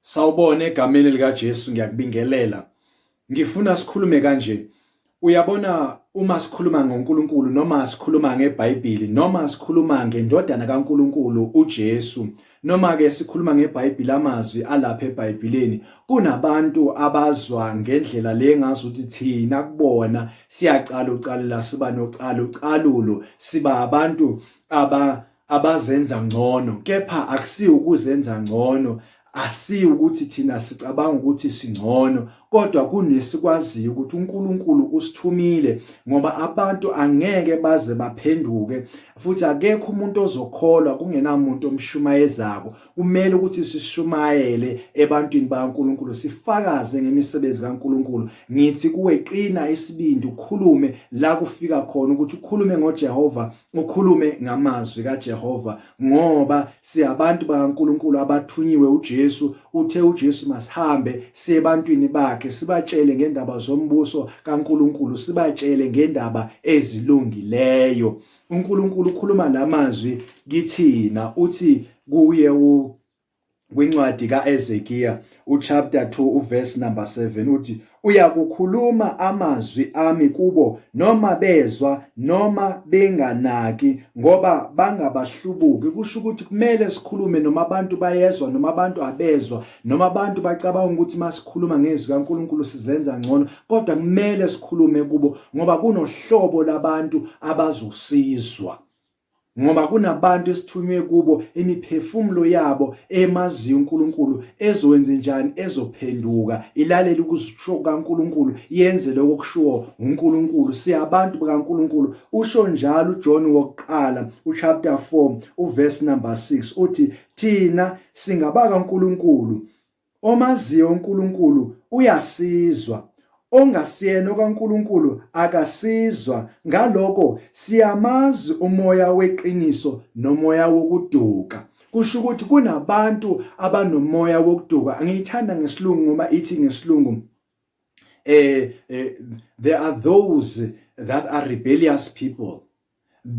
Sawubona egameni likaJesu ngiyakubingelela. Ngifuna sikhulume kanje. Uyabona uma sikhuluma ngoNkulunkulu noma sikhuluma ngeBhayibheli noma sikhuluma ngendodana kaNkulunkulu uJesu noma ke sikhuluma ngeBhayibheli amazwi alapha eBhayibhelini kunabantu abazwa ngendlela le ngazi ukuthi thina kubona siyacala ucalela siba nocalucalulo siba abantu aba abazenza ngcono kepha akusiyo ukuzenza ngcono asiyo ukuthi thina sicabanga ukuthi singcono kodwa kunesikwaziyo ukuthi uNkulunkulu usithumile ngoba abantu angeke baze baphenduke futhi akekho umuntu ozokholwa kungenamuntu omshumayezako kumele ukuthi sishumayele ebantwini bakaNkulunkulu sifakaze ngemisebenzi kaNkulunkulu ngithi kuwe qina isibindi ukhulume la kufika khona ukuthi ukhulume ngoJehova ukhulume ngamazwi kaJehova ngoba siyabantu bakaNkuluNkulu abathunyiwe uJesu uthe uJesu masihambe siye ebantwini bakhe sibatshele ngendaba zombuso kaNkuluNkulu sibatshele ngendaba ezilungileyo uNkuluNkulu ukhuluma lamazwi kithina uthi kuye u kwincwadi kaEzekiya uchapter 2 uverse number 7 uthi uyakukhuluma amazwi ami kubo noma bezwa noma benganaki ngoba bangabahlubuki kusho ukuthi kumele sikhulume noma abantu bayezwa noma abantu abezwa noma abantu bacabanga ukuthi masikhuluma ngezwi kaNkuluNkulu sizenza ngcono kodwa kumele sikhulume kubo ngoba kunohlobo labantu abazosizwa Ngoba kunabantu esithunywe kubo imiphefumulo yabo emaziyo uNkulunkulu ezokwenze njani ezophenduka ilalele ukusho kukaNkulunkulu yenze lokho kushiwo uNkulunkulu siyabantu bakaNkulunkulu usho njalo uJohn wokuqala uchapter 4 uverse number 6 uthi thina singabaka uNkulunkulu Omaziyo uNkulunkulu uyasizwa, ongasiyena okaNkulunkulu akasizwa, ngaloko siyamazi umoya weqiniso nomoya wokuduka. Kusho ukuthi kunabantu abanomoya wokuduka, angiyithanda ngesilungu ngoba ithi ngesilungu uh, uh, there are those that are rebellious people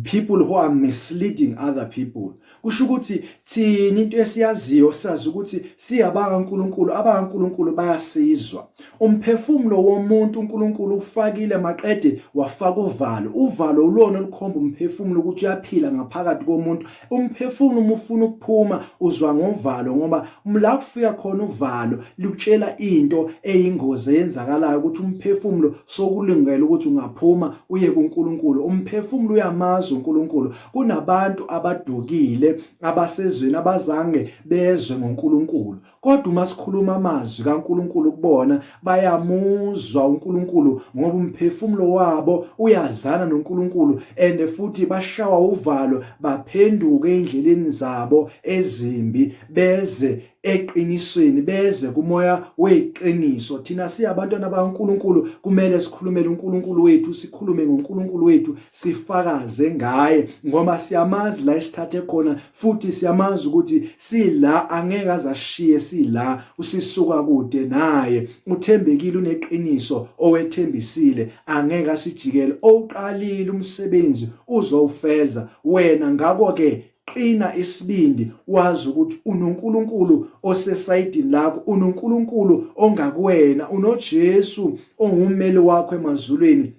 people who are misleading other people kusho ukuthi thina into esiyaziyo sazi ukuthi siyabanga uNkulunkulu abanga uNkulunkulu bayasizwa umphefumulo womuntu uNkulunkulu ufakile maqede wafaka uvalo uvalo ulona olukhomba umphefumulo ukuthi uyaphila ngaphakathi komuntu umphefumulo uma ufuna ukuphuma uzwa ngovalo ngoba la kufika khona uvalo likutshela into eyingozi eyenzakalayo ukuthi umphefumulo sokulungela ukuthi ungaphuma uye kuNkulunkulu umphefumulo uyamazi uNkulunkulu kunabantu abadukile abasezweni abazange bezwe ngoNkulunkulu Kodwa uma sikhuluma amazwi kaNkulunkulu kubona bayamuzwa uNkulunkulu ngoba umphefumulo wabo uyazana noNkulunkulu and futhi bashawa uvalo baphenduke endleleni zabo ezimbi beze eqinisweni beze kumoya weqiniso thina siyabantwana baNkuluNkulu kumele sikhulumele uNkuluNkulu wethu sikhulume ngoNkuluNkulu wethu sifakaze ngaye ngoba siyamazi la isithathe khona futhi siyamazi ukuthi sila angeke azashiye sila usisuka kude naye uthembekile uneqiniso owethembisile angeke asijikele owuqalile umsebenzi uzowufeza wena ngakho ke qina isibindi wazi ukuthi unoNkulunkulu osesayidini lakho unoNkulunkulu ongakuwena unoJesu ongummeli wakho emazulwini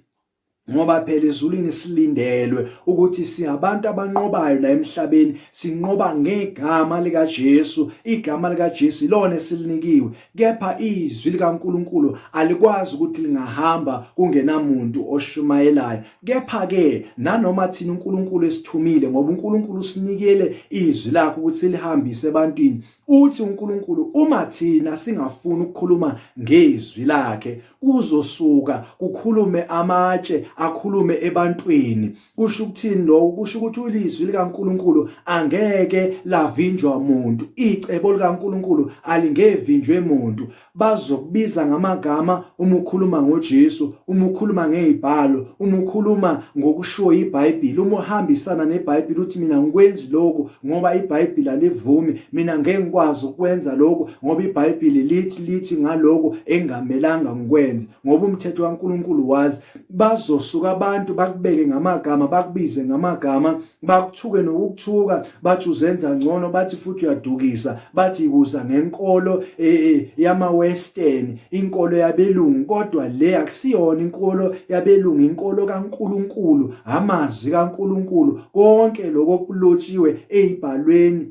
ngoba phela ezulwini silindelwe ukuthi siyabantu abanqobayo la emhlabeni sinqoba ngegama lika Jesu igama lika Jesu ilona esilinikiwe kepha izwi likaNkuluNkulu alikwazi ukuthi lingahamba kungenamuntu oshumayelayo kepha ke nanoma thina uNkuluNkulu esithumile ngoba uNkuluNkulu usinikele izwi lakhe ukuthi silihambise ebantwini Uthi uNkulunkulu uma thina singafuni ukukhuluma ngezwi lakhe kuzosuka kukhulume amatshe akhulume ebantwini kusho ukuthini lokho kusho ukuthi ulizwi likaNkulunkulu angeke lavinjwa muntu icebo likaNkulunkulu alingevinjwe muntu bazokubiza ngamagama uma ukhuluma ngoJesu, uma ukhuluma ngezibhalo, uma ukhuluma ngokushiwo iBhayibheli, uma uhambisana neBhayibheli uthi mina ngikwenzi lokhu ngoba iBhayibheli alivumi, mina ngeke ngikwazi ukwenza lokhu ngoba iBhayibheli lithi lithi ngalokho engamelanga ngikwenze ngoba umthetho kaNkuluNkulu wazi. Bazosuka abantu bakubeke ngamagama, bakubize ngamagama bakuthuke nokukuthuka bathi uzenza ngcono bathi futhi uyadukisa bathi ikuza ngenkolo e, e, yama western inkolo yabelungu kodwa le akusiyona inkolo yabelungu inkolo kaNkuluNkulu amazwi kaNkuluNkulu konke lokho kulotshiwe ezibhalweni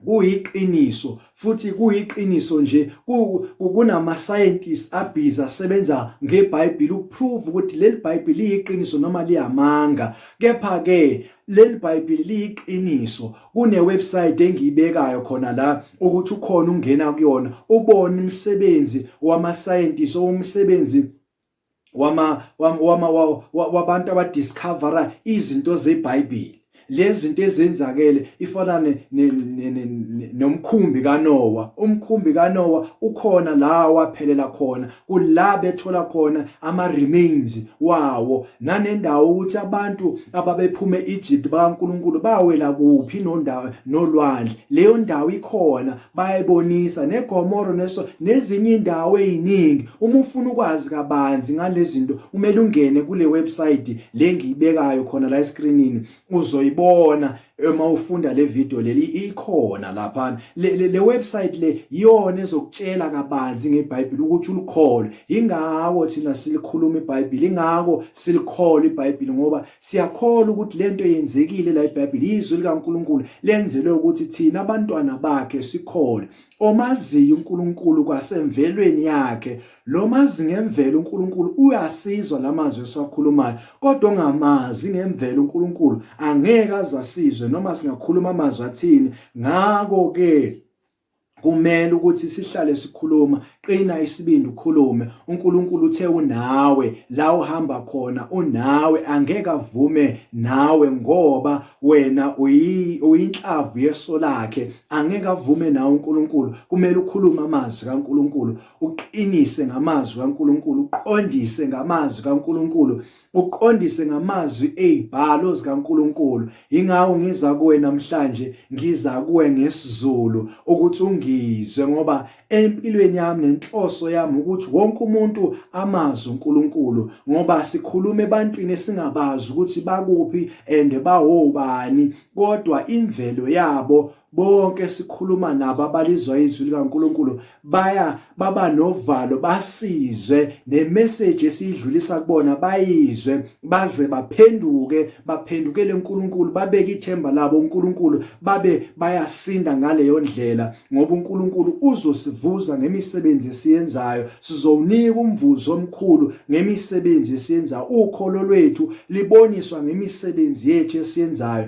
Kuyiqiniso, futhi kuyiqiniso nje. Kunama-scientists abhizi asebenza ngeBhayibhili ukuprove ukuthi leli Bhayibhili liyiqiniso noma liyamanga. Kepha-ke leli Bhayibhili liyiqiniso. Kune-website engiyibekayo khona la ukuthi ukhona ungena kuyona ubone umsebenzi wama-scientists owumsebenzi wama wama wabantu abadiscovera izinto zeBhayibheli lezi zinto ezenzakele ifana nomkhumbi kaNowa umkhumbi kaNowa ukhona la waphelela khona kula bethola khona ama remains wawo nanendawo ukuthi abantu ababephume Egypt bakaNkuluNkulu bawela kuphi nondawo nolwandle leyo ndawo ikhona bayayibonisa negomoro neso nezinye indawo eziningi uma ufuna ukwazi kabanzi ngalezinto umele ungene kule website le ngiyibekayo khona la escreenini uzoyibona uma ufunda le video leli ikhona lapha le, le, le website le iyona ezokutshela kabanzi ngeBhayibheli ukuthi ulikholwe ingako thina silikhuluma iBhayibheli ingako silikholwe iBhayibheli ngoba Siyakholwa ukuthi le nto yenzekile la iBhayibheli izwi likaNkulunkulu lenzelwe ukuthi thina abantwana bakhe sikhole omaziyo uNkulunkulu kwasemvelweni yakhe lo mazi ngemvelo uNkulunkulu uyasizwa lamazwi esiwakhulumayo kodwa ongamazi ngemvelo uNkulunkulu angeke azasizwe noma singakhuluma amazwi athini ngakho ke kumele ukuthi sihlale sikhuluma qina isibindi ukhulume uNkulunkulu uthe unawe la uhamba khona unawe angeke avume nawe ngoba wena uyinhlavu yeso lakhe angeke avume nawe uNkulunkulu kumele ukhulume amazwi kaNkulunkulu uqinise ngamazwi kaNkulunkulu uqondise ngamazwi kaNkulunkulu uqondise ngamazwi ezibhalo zikaNkulunkulu ingawo ngiza kuwe namhlanje ngiza kuwe ngesizulu ukuthi ungizwe ngoba empilweni yami nenhloso yami ukuthi wonke umuntu amazi uNkulunkulu ngoba sikhuluma ebantwini esingabazi ukuthi bakuphi and bawobani kodwa imvelo yabo Bonke sikhuluma nabo abalizwa izwi likaNkulunkulu baya baba novalo basizwe nemeseji esiyidlulisa kubona bayizwe baze baphenduke baphendukele uNkulunkulu babeke ithemba labo uNkulunkulu babe bayasinda ngaleyo ndlela ngoba uNkulunkulu uzosivuza ngemisebenzi esiyenzayo sizowunika umvuzo omkhulu ngemisebenzi esiyenzayo ukholo lwethu liboniswa ngemisebenzi yethu esiyenzayo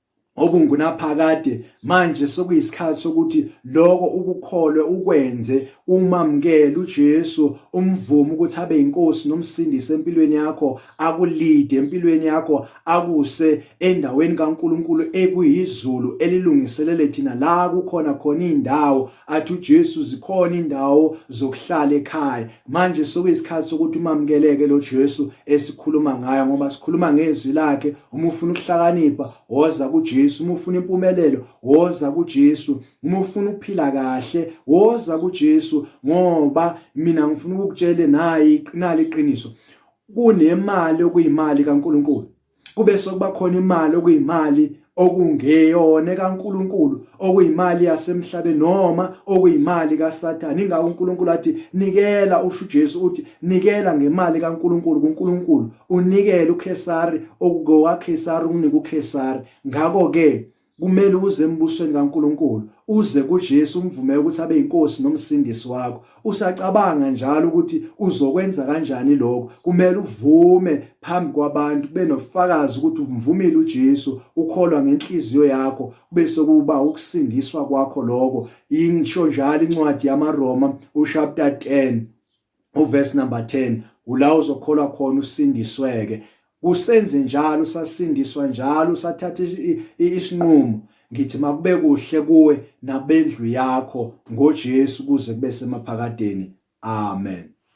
okungunaphakade manje sokuyisikhathi sokuthi lokho ukukholwe ukwenze umamukele uJesu umvume ukuthi abe inkosi nomsindisi empilweni yakho akulide empilweni yakho akuse endaweni kaNkuluNkulu ekuyizulu elilungiselele thina la kukhona khona indawo athi uJesu zikhona indawo zokuhlala ekhaya Manje sokuyisikhathi sokuthi umamukeleke lo Jesu esikhuluma ngayo ngoba sikhuluma ngezwi lakhe uma ufuna ukuhlakanipha woza kuJesu uma ufuna impumelelo woza kuJesu uma ufuna ukuphila kahle woza kuJesu ngoba mina ngifuna ukukutshela nayi iqinali iqiniso kunemali okuyimali kaNkuluNkulu kube sokuba khona imali okuyimali okungeyona kaNkuluNkulu okuyimali yasemhlabeni noma okuyimali kaSathane ingakho uNkuluNkulu athi nikela usho uJesu uthi nikela ngemali kaNkuluNkulu kuNkuluNkulu unikele uKhesari okukowaKhesari ukunike uKhesari ngakho ke Kumele uze embusweni kaNkulunkulu, uze kuJesu umvumele ukuthi abe inkosi nomsindisi wakho. Usacabanga njalo ukuthi uzokwenza kanjani lokho. Kumele uvume phambi kwabantu kube nofakazi ukuthi umvumile uJesu, ukholwa ngenhliziyo yakho, kube sekuba ukusindiswa kwakho lokho. Ingisho njalo incwadi yamaRoma ushapta 10 uverse number 10 ula uzokholwa khona usindisweke kusenze njalo usasindiswa njalo usathatha isinqumo ngithi makube kuhle kuwe nabendlu yakho ngoJesu kuze kube semaphakadeni amen